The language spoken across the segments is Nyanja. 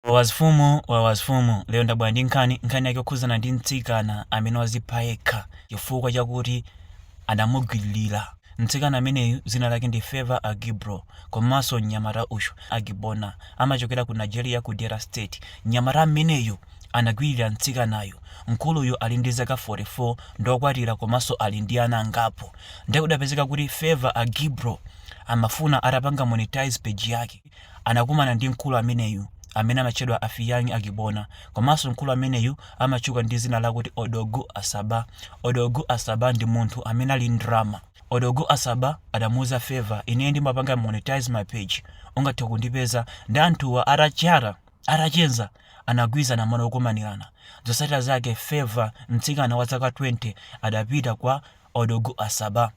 Wawazfumu Wawazfumu lero ndabwera ndi nkhani, nkhani yake yokhudzana ndi mtsikana amene wazipha yekha chifukwa chakuti adamugwililira. Mtsikana ameneyu dzina lake ndi Favour Agibrow komanso mnyamata uyu, Agbona, amachokera ku Nigeria ku Delta State. Mnyamata ameneyu anagwililira mtsikanayu. Mkuluyu ali ndi zaka 44, ndi okwatira komanso ali ndi ana angapo. Nde kudapezeka kuti Favour Agibrow amafuna atapanga monetize page yake. anakumana ndi mkulu ameneyu amene amatchedwa Afiyangi Agbona komanso mkulu ameneyu amatchuka ndi dzina lakuti Odogwu Asaba. Odogwu Asaba ndi munthu amene ali ndrama. Odogwu Asaba adamuuza Favour, ineyo ndimapanga monetize ma page, ungathe kundipeza, nde anthuwa atacheza, anagwirizana malo okumanirana. Zotsatira zake Favour, mtsikana wa zaka 20, adapita kwa Odogwu Asaba.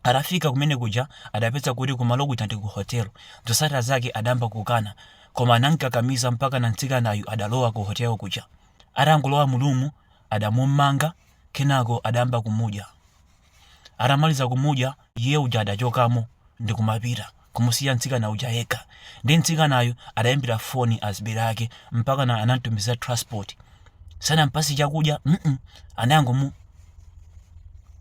Atafika kumene kuja adapeza kuti kumalo kuja ndi ku hotel. Zotsatira zake adayamba kukana koma anamkakamiza mpakana mtsikanayu adalowa ku hotel kuja. Atangolowa mu room adamumanga kenako adayamba kumudya. Atamaliza kumudya iye uja adachokamo ndi kumapita. kumusiya mtsikana uja yekha ndi mtsikanayu adaimbira foni azibale ake mpaka na anamtumizira transport sanampatse chakudya mm anangomu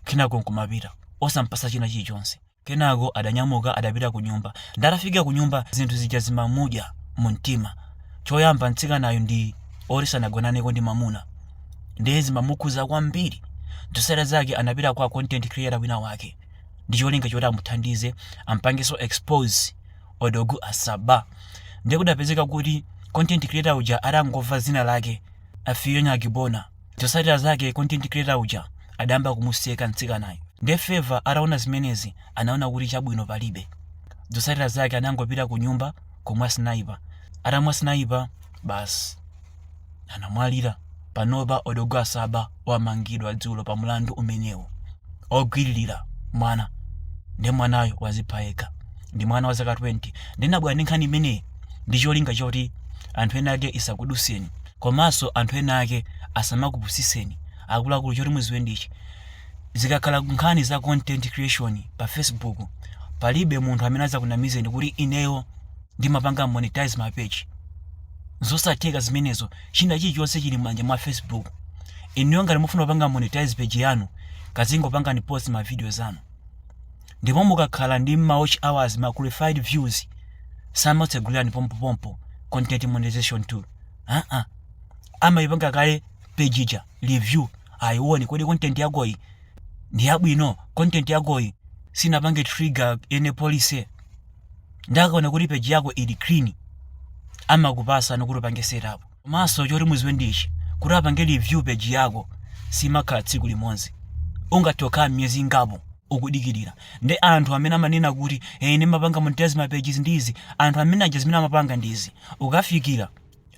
kenako nkumapita osampatsa china chilichonse kenako adanyamuka adapita ku nyumba ndatafika ku nyumba zinthu zija zimamudya mu mtima choyamba mtsikanayo ndi oti sanagonaneko ndi mamuna ndiye zimamukhuza kwambiri zotsatira zake anapita kwa content creator wina wake ndi cholinga choti amuthandize ampangenso expose odogu asaba ndiye kudapezeka kuti content creator uja atangomva dzina lake afiyani agibona zotsatira zake content creator uja adayamba kumuseka mtsikanayo ndiye favour ataona zimenezi anaona kuti chabwino palibe zotsatira zake anangopita ku nyumba kumwa sniper atamwa sniper basi anamwalira. Panopa odogwu asaba wamangidwa dzulo pa mlandu umenewu ogwiririra mwana ndi mwanayo wazipha yekha ndi mwana wa zaka 20 ndinabwera ndi nkhani imeneyi ndi cholinga choti anthu ena ake isakudutseni komanso anthu ena ake asamakupusitseni akuluakulu choti mudziwe ndichi zikakhala nkhani za content creation pa facebook palibe munthu amene adzakunamizeni kuti ineyo ndimapanga monetize ma page zosatheka zimenezo china chilichonse chili m'manja mwa facebook inuyo ngati mufuna kupanga monetize page yanu kazingopangani post ma videos anu ndipo mukakhala ndi ma watch hours ma qualified views samakutsegulirani pompopompo content monetization tool aa amayipanga kale page ija review ayione kodi content yakoyi ndi yabwino content yakoyi sinapange trigger any policy nde akaona kuti page yako ili clean amakupasa kuti upange setup komanso choti muziwe ndichi kuti apange review page yako simakhala tsiku limodzi ungathe kukhala miyezi ingapo ukudikirira nde anthu amene amanena kuti ine ndimapanga monetize ma pages ndizi anthu amene aja zimene amapanga ndizi ukafikira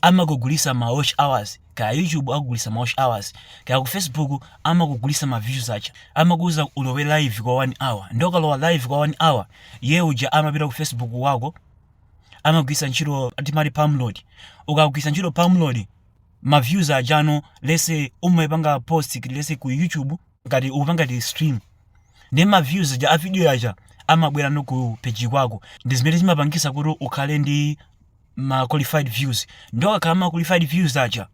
amakugulisa ma watch hours kaya youtube akugulisa ma watch hours kaya ku facebook amakugulisa ma views aja amakuuza ulowe live kwa 1 hour nde ukalowa live kwa 1 hour ye uja amapita ku facebook kwako amagwisa ntchito timati pamload ukagwisa ntchito pamload ma views aja onse umayipanga post lese ku youtube ngati ukupanga ti stream ndi ma views aja a video yaja amabwera no ku page kwako ndi zimene zimapangisa kuti ukhale ndi ma qualified views nde ukakhala ma qualified views aja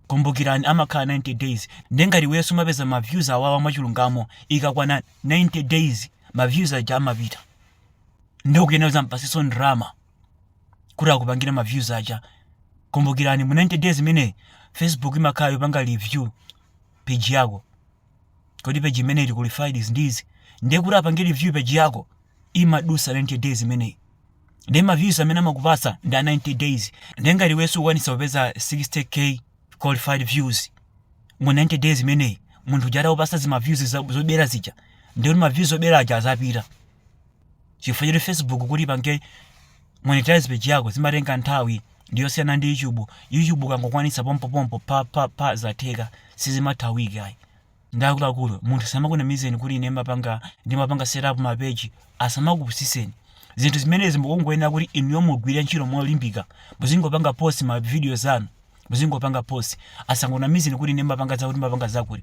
kumbukirani amakhala 90 days nde ngati iweyo sumapeza ma views awawa mwachilungamo ikakwana 90 days ma views aja amapita nde ukuyenera uzampaseso ndrama kuti akupangire ma views aja kumbukirani mu 90 days imene facebook imakhala yopanga review page yako kodi page imeneyi ili qualified ndi izi ndiye kuti apange review page yako imadusa 90 days imeneyi ndiye ma views amene amakupatsa ndi a 90 days ndiye ngati iweyo sukukwanitsa kupeza 60k qualified views mu 90 days imeneyi munthu uja atakupatsa zima views za- zobera zija ndiye kuti ma views zobera aja azapita chifukwa choti facebook kuti ipange monetize page yako zimatenga nthawi ndiyosiyana ndi youtube youtube ukangokwanitsa pompopompo pa pa pa zatheka sizimatha wiki ayi nde akuluakulu munthu asamakunamizeni kuti ine mapanga ndimapanga setup ma page asamakupusiseni zinthu zimenezi mukungoyenera kuti inuyo mugwire ntchito molimbika muzingopanga post ma videos anu muzingopanga post asangonamizeni kuti ine mapanga zakuti mapanga zakuti